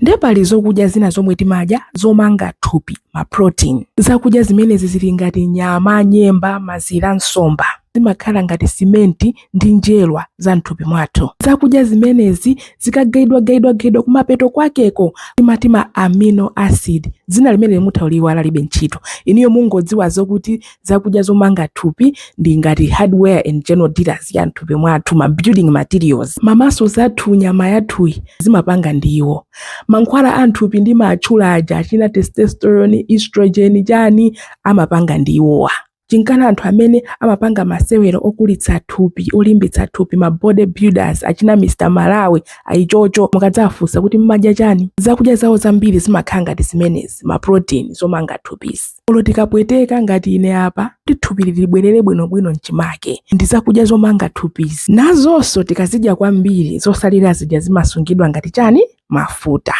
ndiye pali zokudya zina zomwe timadya zomanga thupi ma protein zakudya zimenezi zili ngati nyama nyemba mazira nsomba zimakhala ngati simenti ndi njerwa za mthupi mwathu zakudya zimenezi zikagaidwagaidwagaidwa kumapeto kwakeko timati ma amino acid dzina limene mutha kuliiwala libe ntchito iniyo mungodziwa zokuti zakudya zomanga thupi ndi ngati hardware and general dealers ya mthupi mwathu ma building materials mamaso zathu nyama yathuyi zimapanga ndiwo mankhwala a mthupi ndimatchula aja achina testosterone estrogen chani amapanga ndiwowa chinkana anthu amene amapanga masewero okulitsa thupi olimbitsa thupi ma body builders achina mr malawi ayichocho mukadzafunsa kuti mmadya chani zakudya zawo zambiri zimakhala ngati zimenezi ma protein zomanga thupizi Olo tikapweteka ngati ine apa kuti thupi libwerere bwinobwino m'chimake ndi zakudya zomanga thupizi. Nazonso tikazidya kwambiri zosalira zija zimasungidwa ngati chani? Mafuta.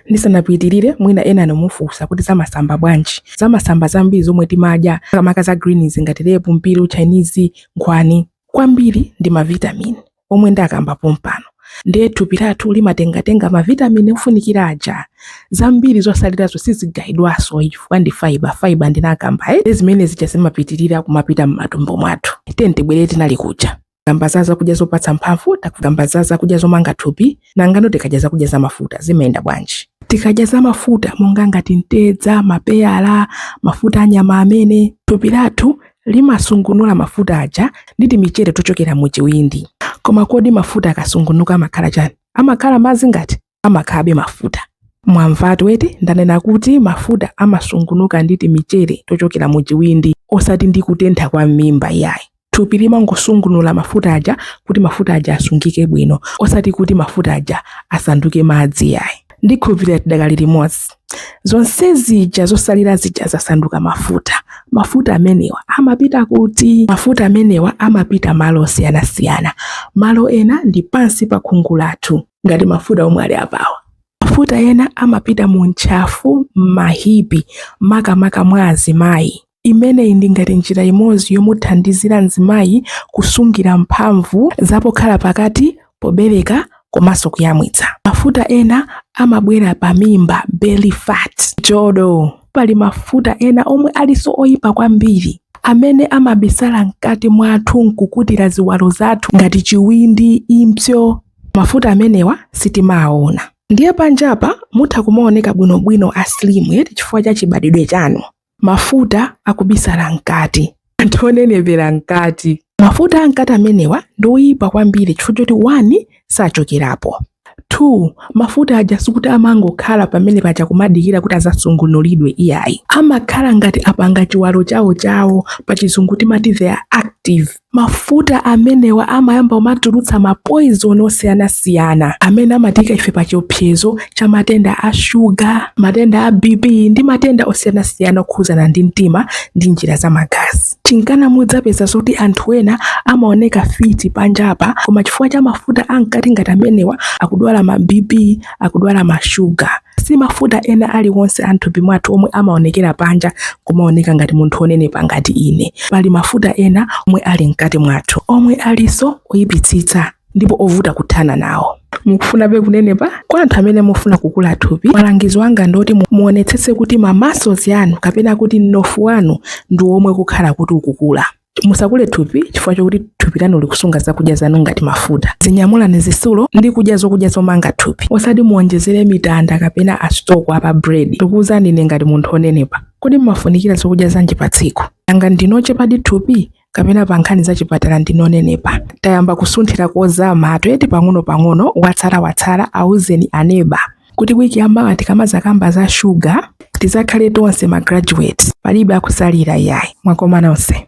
Ndisanapitirire mwina enanu mufunsa kuti zamasamba bwanji? Zamasamba zambiri zomwe timadya makamaka za greens ngati lepu, mpiru, chinese, nkhwani kwambiri ndi mavitamini. omwe ndakamba pompano ndiye thupi lathu limatengatenga mavitamini ofunikira aja zambiri zosalirazo sizigayidwanso chifukwa ndi faiba faiba ndinakamba eh? zimene zija zimapitirira kumapita m'matumbo mwathu tiyeni tibwerere tinali kuja takamba za zakudya zopatsa mphamvu takukamba za zakudya zomanga thupi Nanga no tikadya zakudya zamafuta zimayenda bwanji? Tikadya zamafuta monga ngati mtedza, mapeyala, mafuta a nyama amene, thupi lathu limasungunula mafuta aja ndi timichere tochokera mu chiwindi. Koma kodi mafuta akasungunuka amakhala chani? Amakhala madzi ngati? Amakhalabe mafuta. Mwamvatu eti, ndanena kuti mafuta amasungunuka ndi timichere tochokera mu chiwindi osati ndi kutentha kwa m'mimba iyayi. thupi limangosungunula mafuta aja kuti mafuta aja asungike bwino osati kuti mafuta aja asanduke madzi yayi ndikhulupirira tidakali limodzi zonse zija zosalira zija zasanduka mafuta mafuta amenewa amapita kuti mafuta amenewa amapita malo osiyanasiyana malo ena ndi pansi pa khungu lathu ngati mafuta omwe ali apawa mafuta ena amapita mu ntchafu m'mahipi makamaka mwa azimayi Imeneyi ndi ngati njira imodzi yomuthandizira mzimayi kusungira mphamvu za pokhala pakati, pobereka komanso kuyamwitsa. Mafuta ena amabwera pa mimba, belly fat, njodo. Pali mafuta ena omwe alinso oyipa kwambiri amene amabisala mkati mwathu nkukutira ziwalo zathu ngati chiwindi, impsyo. Mafuta amenewa sitimawawona. Ndiye panjapa mutha kumaoneka bwinobwino a slim eti chifukwa cha chibadidwe chanu. Mafuta akubisala mkati. Anthu onenepera mkati. Mafuta amkati amenewa ndi oyipa kwambiri chifukwa choti 1 sachokerapo, 2 mafuta aja sikuti amangokhala pamene paja kumadikira kuti azasungunulidwe iyayi, amakhala ngati apanga chiwalo chawo chawo, pachizungu timati they are active. Mafuta amenewa amayamba kumatulutsa mapoizoni osiyanasiyana amene amatiika ife pa chiopsezo cha matenda a shuga, matenda a BP ndi matenda osiyanasiyana okhudzana ndi mtima ndi njira za magazi. Chinkana mudzapeza zoti anthu ena amaoneka fiti panjapa koma chifukwa cha mafuta amkati ngati amenewa akudwala ma BP, akudwala mashuga. Si mafuta ena aliwonse a m'thupi mwathu omwe amaonekera panja kumaoneka ngati munthu wonenepa ngati ine. Pali mafuta ena omwe ali mkati mwathu omwe alinso oyipitsitsa ndipo ovuta kuthana nawo. mukufunabe kunenepa? Kwa anthu amene mufuna kukula thupi, malangizo anga ndoti muonetsetse kuti ma muscles anu kapena kuti mnofu wanu ndi womwe ukhala kuti ukukula. Musakule thupi chifukwa chokuti thupi lanu likusunga zakudya zanu ngati mafuta. Dzinyamulani zisulo ndi kudya zokudya zomanga thupi, osati muonjezere mitanda kapena asitoko apa bread. Ndikuwuzani ine ngati munthu onenepa, kodi mumafunikira zokudya zanji pa tsiku? Nanga ndinu ochepadi thupi? kapena pa nkhani za chipatala ndinu onenepa tayamba kusunthira kozama eti pang'ono-pang'ono watsala-watsala auzeni aneba kuti wiki yamawa tikamazakamba za shuga tizakhale tonse ma graduates palibe akusalira yayi mwakoma nonse